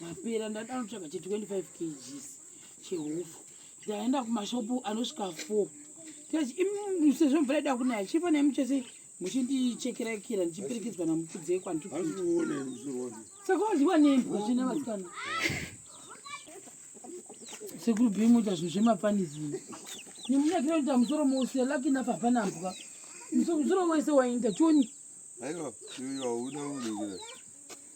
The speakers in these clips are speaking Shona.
Ndapera ndada kutsvaga che 25 kgs chehupfu. Ndaenda kumashopu anosvika 4. Tikachi imi sezvo mvura ida kunaya chifa nemi chese muchindichekera kira ndichiperekedzwa namukudze kwantu. Saka wadyiwa nemi vachina vasikana. Sekuru Bimu ita zvinhu zvemapanizi. Nemunyakira kuita musoro mose lucky enough hapana mbwa. Musoro wese wainda choni. Aiwa, iwe hauna unhu.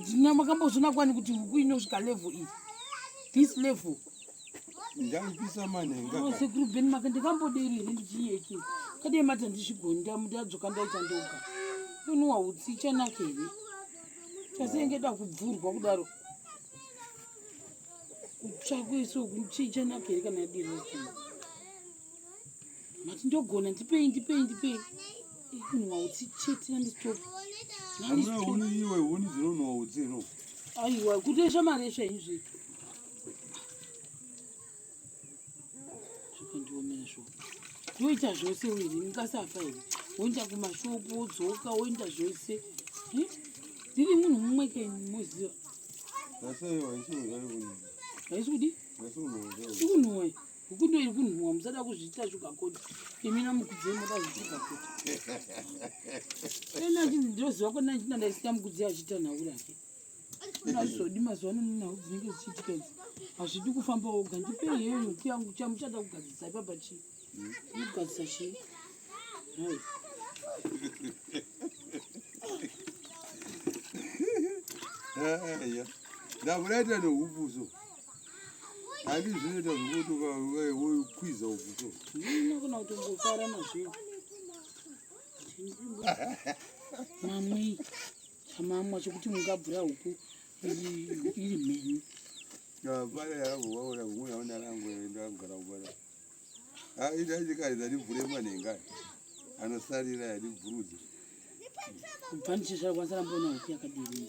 Ndina makambozvina kwani kuti huku inosvika level iyi. This level. Ndangisa mane ngaka. Oh, sekuru Ben maka ndikamboderi here ndichiyeke. Kade mata ndishigonda mudadzoka ndaita ndoka. Unwa utsi chanake here. Chasenge da kubvurwa kudaro. Kutsvakwe so kuchicha nake here kana diri. mati ndogona ndipei ndipei ndipei kunwa utsi chete nandistop iwe huni dzinonwa utsi no aiwa kuti esha mari esha izvi zvakandiomera zvo ndoita zvose uiri ndikasafa here woenda kumashopu wodzoka woenda zvose hm? ndiri munhu mumwe ke moziva haisi kudi ikunhuwa Huku ndio iri kunhuwa musada kuzviita sugar coat. Imi na mukudzi moda zviita coat. Ena chinzi ndinoziva kona ndina ndaisiya mukudzi achiita nhau rake. Nazvodi mazuva ano nhau dzinenge dzichiitika idzi. Hazvidi kufamba woga ndipei heyo noti yangu chamuchada kugadzisa ipapa chii. Kugadzisa chii. Hai. Eya. Ndakureita nohupuso. Hadi zvineta zvokuti ukauya wokwiza uvuto. Ndino kuna kuti ngofara nazvo. Mamwe chamamwa chokuti mungabvura huku iri mhenyu. Vaya yavo vaona kumwe yaona rangu ndagara kubara. Ah, ita chikari zati vhure manenga. Anosarira yadi vhurudzi. Kubva ndichishara kwanisa rambona huku yakadini.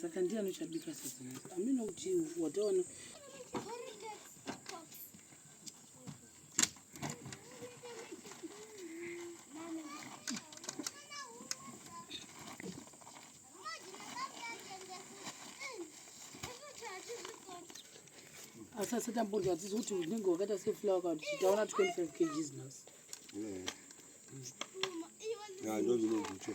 Saka ndiye anochabika sasa. Amina kuti wataona asi asatambodya atizi kuti unenge wakaita seflower kana tichitaona 25 kgs nhasi ndozvinogutswa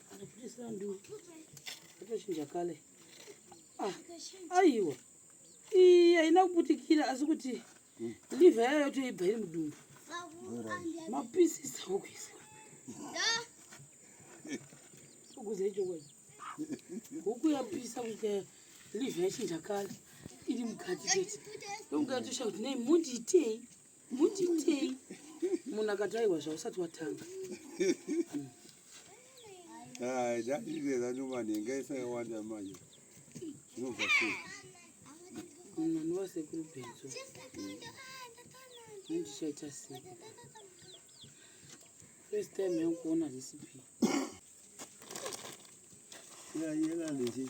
Ah, aiwa iyi haina kuputikira asi kuti livha yayo toibva iri mudumbu mapisisa okuisa ukuze ichokwadi huku yapisa kuita livha yachinja kale iri mukati chete ndokugatosha kuti nei mundiitei munditei munhu akati aiwa zvausati watanga ah, zvairera nomanhenga isakawanda manje zvinobva sei munhu anova sekuru benzo andichaita sei first time yangu kuona recipe yayela yeah, yeah,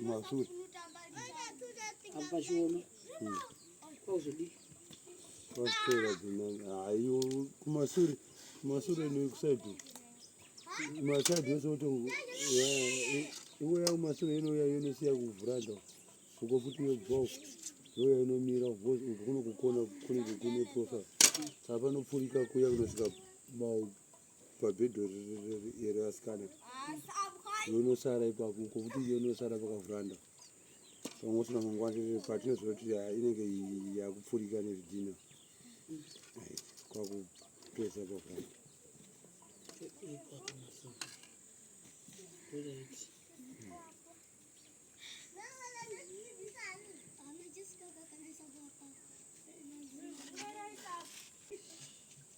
Mazuri. Apachiona. Hmm. Kwauzodii? Kwauswera dzimani. Hayo kumasure. Kumasure nekusaidu. Masaidu yose woto. Iwe ya kumasure inouya yonosiya kuvhuranda. Uko futi yobvawo. Yoya inomira uko kunokukona kunenge kune profile. Saka panopfurika kuya kunosvika mau pabhedho iro asikana yonosara ipapo uko kuti yonosara pakavhuranda pamwe usina mangwanire patinoziva kuti inenge yakupfurika nezvidhina kwakupesa pavhuranda